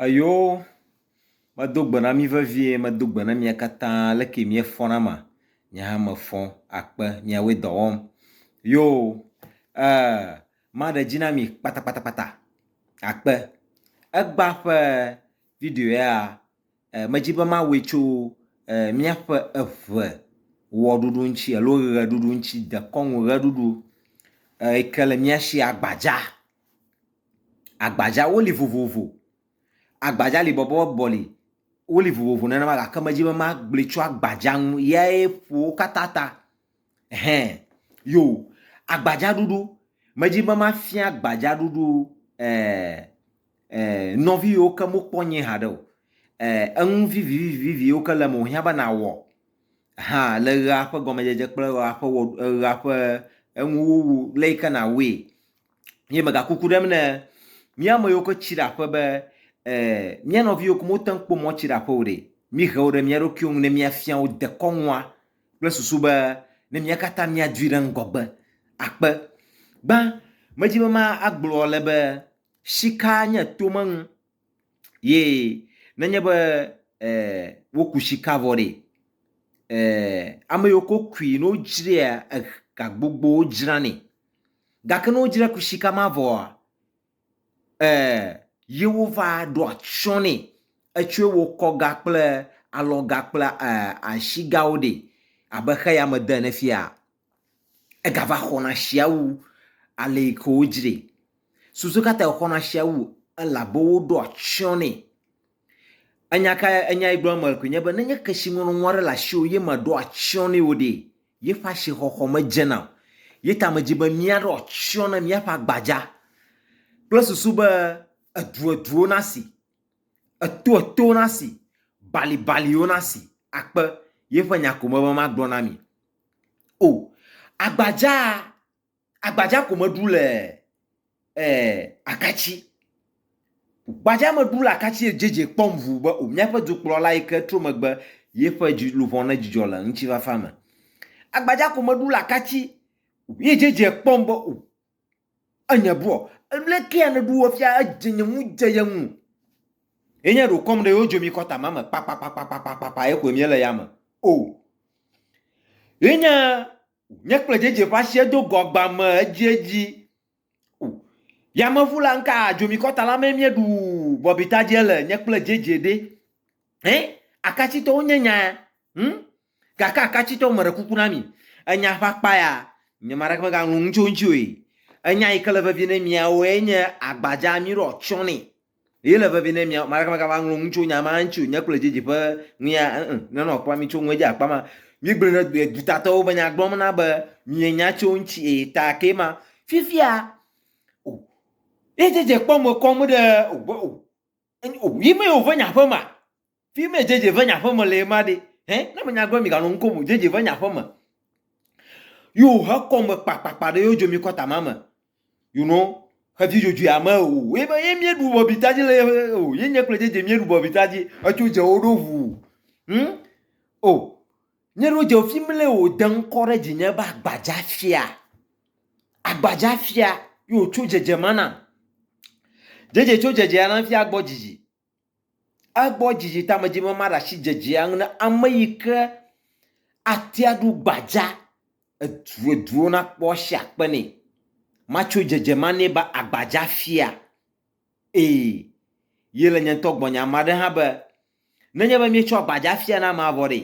Eyoo, medo gbe na mí vevie, medo gbe na mia katã, leke miefɔ nama? Nye hã mefɔ akpe miawoe dɔ wɔm. Yoo, ee, maɖe dzi na mi kpatakpatakpata akpe. Egbã ƒe video ya, e, medi be mawɔe tso e, míaƒe eve wɔɖuɖu ŋuti alo ʋeɖuɖu ŋuti, dekɔnu ʋeɖuɖu e, yi ke le mía si agbadza. Agbadzawo li vovovo. Agbadza li bɔbɔbɔbɔ li. Woli vovovo nenema gake medzi be magblɔe tso agbadza ŋu yae ƒo wo katã ta. Hɛ yo agbadzaɖuɖu, medzi be mafia agbadzaɖuɖu e e nɔvi yiwo ke mekpɔ nyuie haɖe o. E enu vivivivi yiwo ke le eme wohiã be nawɔ hã le ʋea ƒe gɔmedzedze kple ʋea ƒe ʋea ƒe enuwuwu le yi ke nawɔe Ye mega kuku ɖem ne mía ame yiwo ke tsi ɖe aƒe be eh, mía nɔvi yiwo ke mote ŋu kpɔ mɔ tsi ɖe aƒe o ɖe, mihe wo ɖe mía ɖokuiwo ŋu ne míafia wo dekɔnua kple susu be ne mía katã míadui ɖe ŋgɔgbe akpe. Gbã, medi be ma agblɔ ale be shika nye tome nu ye nenye be eh, woku shika vɔ ɖe, eh, ame yiwo ke wokui ne wodzrea eh, gagbogbowo dzranɛ. Gake ne wodzra kusi ka ma vɔa, e, ye wova ɖo atsyɔ nɛ. Etsɔe wɔ kɔga kple alɔga kple e, asigawo ɖe. Abe xeyame de ene fia. Egava xɔna sia wu ale yi ke wodzrae. Susu ka tae wòxɔna sia wu? Elabe woɖo atsyɔ nɛ. Enya kae, enya yi gblɔm mele koe nye be ne nye kesinɔnɔ aɖe le asiwò ye mèɖo atsyɔ̃ nɛ o ɖe, yeƒe asixɔxɔ medzena o. Ye ta medzi be míaɖo atsyɔ̃ na míaƒe agbadza kple susu be edueduewo nasi, etoetowo nasi, balibaliwo nasi akpe yeƒe nya ko me be magblɔ na mi. O, agbadzaa Agbadza ko meɖu le eh, akatsi. Gbadza meɖu le akatsi edzedze kpɔm ʋu be o míaƒe dukplɔla yi ke tro megbe yeƒe luʋɔ ne dzidzɔ le ŋutifafa me. Agbadza ko meɖu le akatsi ye dzedze kpɔm be o enye bɔ lekea ne ɖu efia edze nye ŋu dze ye ŋu. Enye ɖo kɔm ɖe yewo dzo mi kɔta ma me kpakpakpakpakpakpakpa ye koe míele ya me. O. Enye O, nye kple dzedze ƒe asi edo go agba me edziedzi. O, yameʋu la ŋka adzomikɔta la mee míeɖu bɔbita dze le, nye kple dzedze ɖe. Ẽ, akatsitɔwo nye nya, hm? Gake akatsitɔwo meɖe kuku na mi. Enya ƒe akpa ya, nye ame aɖeke megaŋlɔ nu tso eŋuti oe. Enya yi ke le vevie ne miawoe nye agbadza, míɖo atsyɔ̃ nɛ. Ye le vevi ne mia maka maka ma ŋlɔ ŋu tso nya ma ŋtsi o nye kple dzedzi ƒe ŋuya ŋ ne nɔ kpla mi tso ŋue dzi akpa ma mi gblɔ ne due duta tɔwo be nya gblɔm na be mie nya tso ŋtsi e ta ke ma fifia o ye dzedze kpɔ me kɔm ɖe o be o o yi me yo ve nya ƒe ma Fi me JJ ƒe nya ƒe me le ye ma ɖe? Hɛ, ne menya gblɔ miganɔ nu kom o. JJ ƒe nya ƒe me. Yo he kɔ me kpakpakpa ɖe yo dzo mi kɔta ma me. You know, xevi dzodzoe ame o. Ye be ye mie ɖu bɔbita dzi le ye o. Ye nye kple JJ mie ɖu bɔbita dzi. Etso dze wo ɖo ʋu. Hm? O. Nye ɖo dze fi mi le o de ŋkɔ ɖe dzi nye be agbadza fia. Agbadza fia yo tso dzedze ma na. JJ tso dzedze ya na fia gbɔ dzidzi. Egbɔ dzidzi tamedzi be maɖe asi dzedzea ŋu na ame yi ke atea ɖu gbadza edueduwo nakpɔ asi akpe nɛ. Matso dzedze ma nɛ be agbadza fia. Ee, ye le nye ŋutɔ gbɔnye. Ame aɖe hã be, nenye be míetsɔ agbadza fia na amea vɔ ɖee,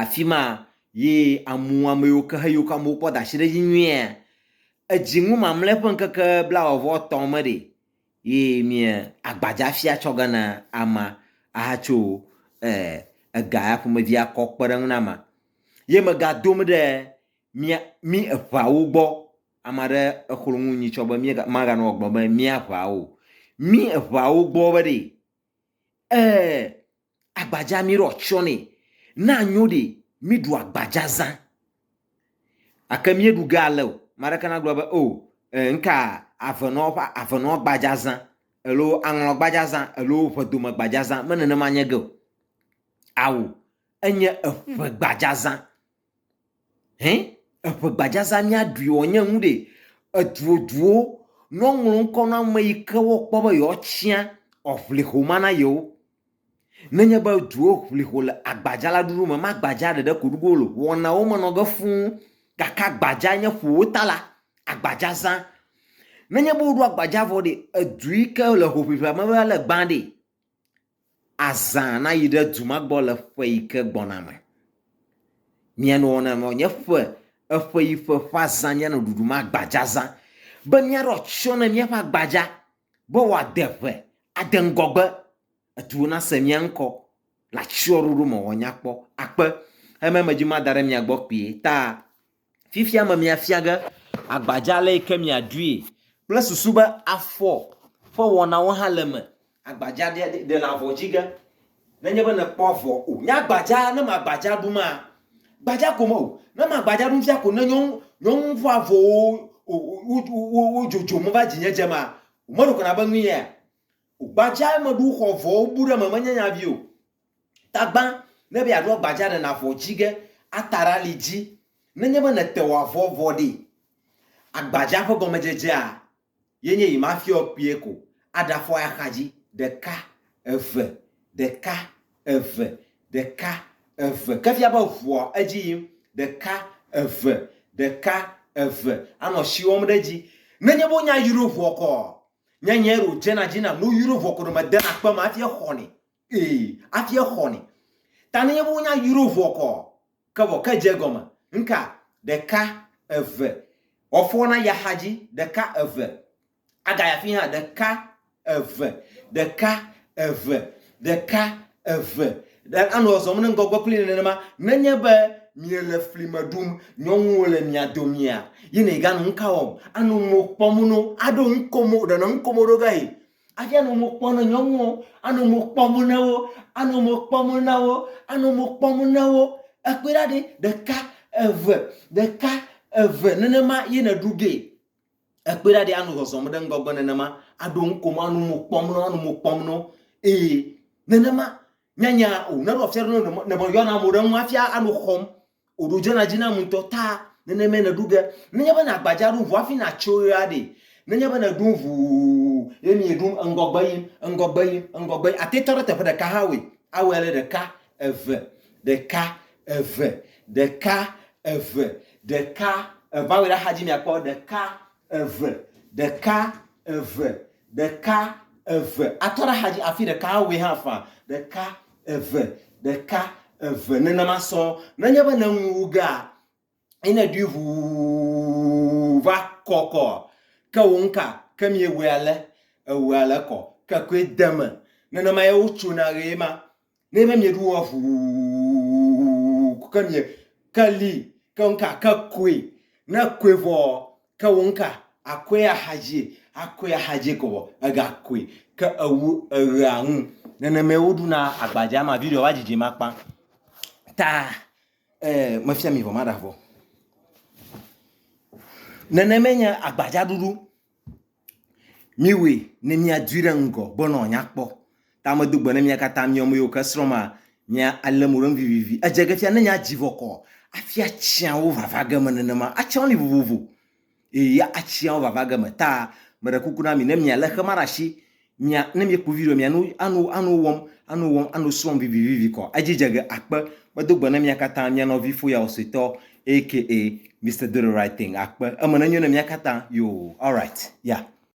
afima yi amu ameyiwo ke heyiwo ke amewo kpɔ dasi ɖe edzi nyuie. Edzi ŋu mamle ƒe ŋkeke blawɔvɔ tɔ me ɖi yi mia agbadza fia tsɔ ge na ama aha tso eh ega ya ƒomevia kɔ kpeɖeŋu na ma. Ye me ga dom ɖe mia mi eʋawo gbɔ. Ame aɖe exlo nu nyitsɔ be mia ma ga nɔ gbɔ be mia ʋawo. Mi eʋawo gbɔ be ɖi Ẽ, agbadza mí ɖo atsyɔ nɛ. Ne anyo ɖe, míɖu agbadza zã. Gake míeɖu ge ale o. Ame aɖeke nagblɔ be, O, ẽ, ŋka avenɔa ƒe avenɔ gbadza zã alo aŋlɔ gbadza zã alo ʋedome gbadza zã. Me nenema nye ge o. Ao, enye eƒe gbadza zã. Hẽ, eŋe gbadzazã míaɖui wɔ nye nu ɖe? Eduoduwo, ne woŋlɔ ŋkɔ na ame yi ke wokpɔ be yewoatsya eŋliho ma na yewo. Nenye be duwo ŋli ho le agbadza la ɖuɖu me, magbadza ɖeɖe ko ɖuɖu wole o, wɔnawo menɔ ge fũ gake agbadza nye ƒo wo ta la, agbadzazã. Nenye be woɖo agbadza vɔ ɖe, edu yi ke le hoʋiʋlia me la le gbã ɖe. azã nayi ɖe du ma gbɔ le ƒe yi ke gbɔna me. Mianɔ ne nɔ nye ƒe eƒe yi ƒe ƒe azã mianɔ ɖuɖu ma gbadza zã be miaɖo atsyɔ ne miaƒe agbadza be wòade ƒe ade ŋgɔgbe eduwo nase mia ŋkɔ le atsyɔɖoɖo me wòanya kpɔ akpe. Eme me dzi mada ɖe mia gbɔ kpuie ta Fifia me miafia ge agbadza ale yi ke miaɖui kple susu be afɔ ƒe wɔnawo hã le eme. Agbadza ɖe ɖe le avɔ dzi ge nenye be nèkpɔ avɔ o. Nye agbadza ne magbadza ɖu maa? Gbadza ko me o. Ne magbadza ɖum fia ko ne nye nye ŋu ƒe avɔwo wo dzodzom va dzinye dze maa? Wome ɖo kana be nu yea? Gbadza meɖu xɔ avɔwo bu ɖe eme menye nya vi o. Tagbã, ne be yeaɖo agbaja ɖe navɔ dzi ge, ata ɖe ali dzi. Nenye be nète wò avɔ vɔ ɖee. Agbaja ƒe gɔmedzedzea ye nye yi mafiɔ kpuie ko, aɖafɔ eya xadzi, ɖeka, eve, ɖeka, eve, ɖeka, eve, ke fia be ŋua edzi yim, ɖeka, eve, ɖeka, eve, anɔ asi wɔm ɖe edzi. Nenye be wonya yrovoɔ kɔɔ, nye nyee ɖo dzena dzi nam, ne woyrovoɔ ko ɖo medena kpe me hafi exɔnɛ Ee, afi exɔ ni. Ta nenye be wonya yuro vɔ kɔ, ke vɔ ke dze gɔme. Nka, ɖeka, eve. Wɔfɔ na ya xadzi, ɖeka, eve. Aga ya fi hã, ɖeka, eve, ɖeka, eve, ɖeka, eve. Ɖe anɔ ɔzɔm ne ŋgɔgbe kpli nenema. Nenye be miele fli me ɖum, nyɔnuwo le mia domia, yi ne iganɔ ŋka wɔm, anɔ ŋmo kpɔm no, aɖo ŋkomo, ɖenɔ ŋkomo ɖo ge yi. Afi anɔ mo kpɔm ne nyɔnuwo, anɔ mo kpɔm ne wo, anɔ mo kpɔm na wo, anɔ mo kpɔm ne wo. Ekpɔe ɖa ɖe, ɖeka, eve, ɖeka, eve nenema ye neɖu ge. Ekpɔe ɖa ɖe anɔ zɔzɔm ɖe ŋgɔgbe nenema, aɖo nu kom, anɔ mo kpɔm ne wo, anɔ mo kpɔm ne wo. Ee, nenema nyanya o. Neɖo afia ɖe ne meyɔna mo ɖe ŋu hafi anɔ xɔm O ɖo dzena dzi nam ŋutɔ ta nenemae nèɖu ge. Nenye be nàgbadza ɖum ʋu hafi nàtso ɣea ɖe, nenye be nèɖum ʋuu ye mieɖum ŋgɔgbe yim, ŋgɔgbe yim, ŋgɔgbe yim, àte tɔ ɖe teƒe ɖeka hã awɔe. Awɔe ale ɖeka, eve, ɖeka, eve, ɖeka, eve, ɖeka, eve. Awɔe ɖe axadzi mìakpɔ, ɖeka, Eve, ɖeka, eve, ɖeka, eve. Atɔ ɖe axadzi afi ɖeka awɔe hã faa. Ɖeka, eve, ɖeka, eve. Nenema sɔ. Nenye be nèŋu wu gea, ye nèɖui ʋuu va kɔ kɔ. Ke wò ŋka, ke miewɔe ale, ewɔe ale kɔ. Ke koe de eme. Nenema ye wotsona ɣee ma. Ne be mieɖu wɔ ʋuu ke mie ke li ke ŋka ke koe ne koe vɔ ke wo ŋka akoe axadzi akoe axadzi ko vɔ ega koe ke ewu eɣea ŋu nenemae woɖuna agbadza ma video va dzidzi makpa ta e mefia mi vɔ maɖa vɔ. Nenemae nye agbadzaɖuɖu. Míwɔe ne míadoe ɖe ŋgɔ be nɔ nyakpɔ. Ta medo gbe ne mia katã mi ame yiwo ke srɔ̃ ma mia alé mo ɖe ŋu vivivi. Edze ge fia ne nya dzi vɔ kɔ afia tsiawo vava ge me nenema. Atsiawo li vovovo eye atsiawo vava ge me ta meɖe kuku na mi ne mia le xema ɖe asi mia ne miekpɔ video mia no ano ano wɔm ano wɔm ano srɔm vivivivi kɔ edzi dze ge akpe medo gbe ne mia katã mia nɔvi foya ɔsɔetɔ aka mr do the right thing akpe eme nenyo ne mia katã yo alright ya yeah.